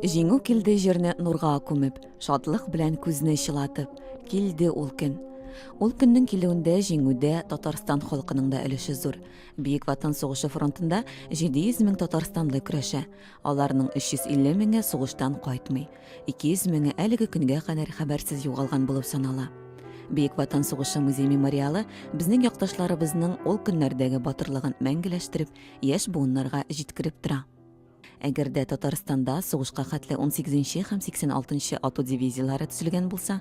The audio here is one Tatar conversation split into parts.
Җиңү килде җирне нурга күмеп, шатлык белән күзне чылатып, килде ул көн. Ул көннең килүендә җиңүдә Татарстан халкының да өлеше зур. Бөек Ватан сугышы фронтында 700 мең татарстанлы көрәшә. Аларның 350 меңе сугыштан кайтмый. 200 меңе әлеге көнгә кадәр хәбәрсез югалган булып санала. Бөек Ватан сугышы музей мемориалы безнең якташларыбызның ул көннәрдәге батырлыгын мәңгеләштереп, яшь буыннарга җиткереп тора. Әгәр дә Татарстанда сугышка хәтле 18 һәм 86 ату дивизияләре төзелгән булса,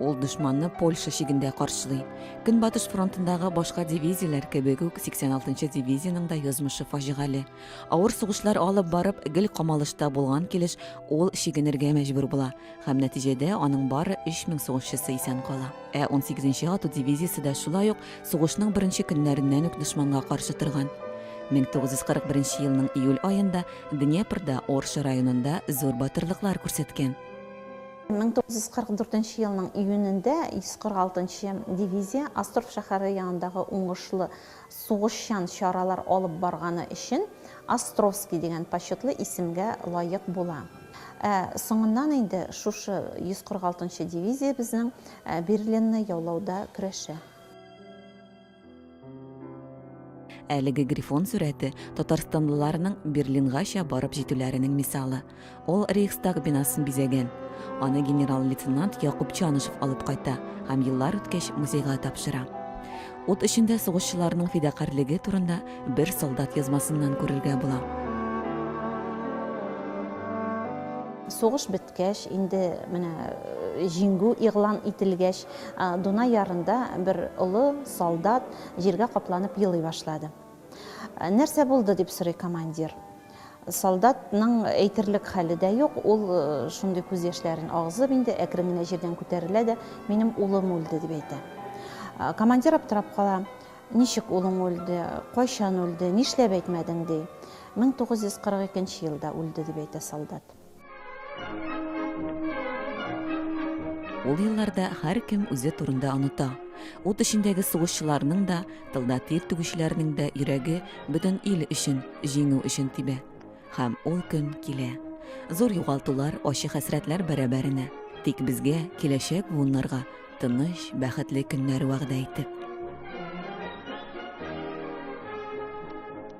Ул дошманны Польша чигендә каршылый. Көнбатыш фронтындагы башка дивизияләр кебек үк 86-нчы дивизиянең дә язмышы фаҗигале. Авыр сугышлар алып барып, гел камалышта булган килеш ул чигенергә мәҗбүр була һәм нәтиҗәдә аның бары 3000 сугышчысы исән кала. Ә 18-нче ату дивизиясе дә шулай ук сугышның беренче көннәреннән үк дошманга каршы торган. 1941 елның июль аенда Днепрда, Орша районында зур батырлыклар күрсәткән. 1944 нче елның июнендә 146 нчы дивизия Астров шәһәре янындагы уңышлы сугышчан чаралар алып барганы өчен Островский дигән почетлы исемгә лаек була. Ә соңыннан инде шушы 146 нчы дивизия безнең Берлинны яулауда көрәшә. Әлеге грифон сурәте татарстанлыларның Берлингача барып җитүләренең мисалы. Ул Рейхстаг бинасын бизәгән. Аны генерал-лейтенант Якуб Чанышев алып кайта һәм еллар үткәч музейга тапшыра. Ут эчендә сугышчыларның фидакарьлеге турында бер солдат язмасыннан күрергә була. Сугыш бетте. Үткәч, инде менә җиңү игълан ителгәч, Дунай ярында бер олы солдат җиргә капланып елый башлады. Нәрсә булды, дип сорый командир. Солдатның әйтерлек хәле дә юк, ул шундый күз яшьләрен агызып инде, әкрен генә җирдән күтәрелә дә, Минем улым үлде, дип әйтә. Командир аптырап кала, Ничек улың үлде, кайчан үлде, нишләп әйтмәдең, ди. 1942 елда үлде, дип әйтә солдат. Ул елларда һәркем үзе турында оныта. Ут эчендәге сугышчыларның да, тылда тир түгүчеләрнең дә йөрәге бөтен ил өчен, җиңү өчен тибә. Һәм ул көн килә. Зур югалтулар, ачы хәсрәтләр бәрабәренә. Тик безгә, киләчәк буыннарга, тыныч, бәхетле көннәр вәгъдә итеп.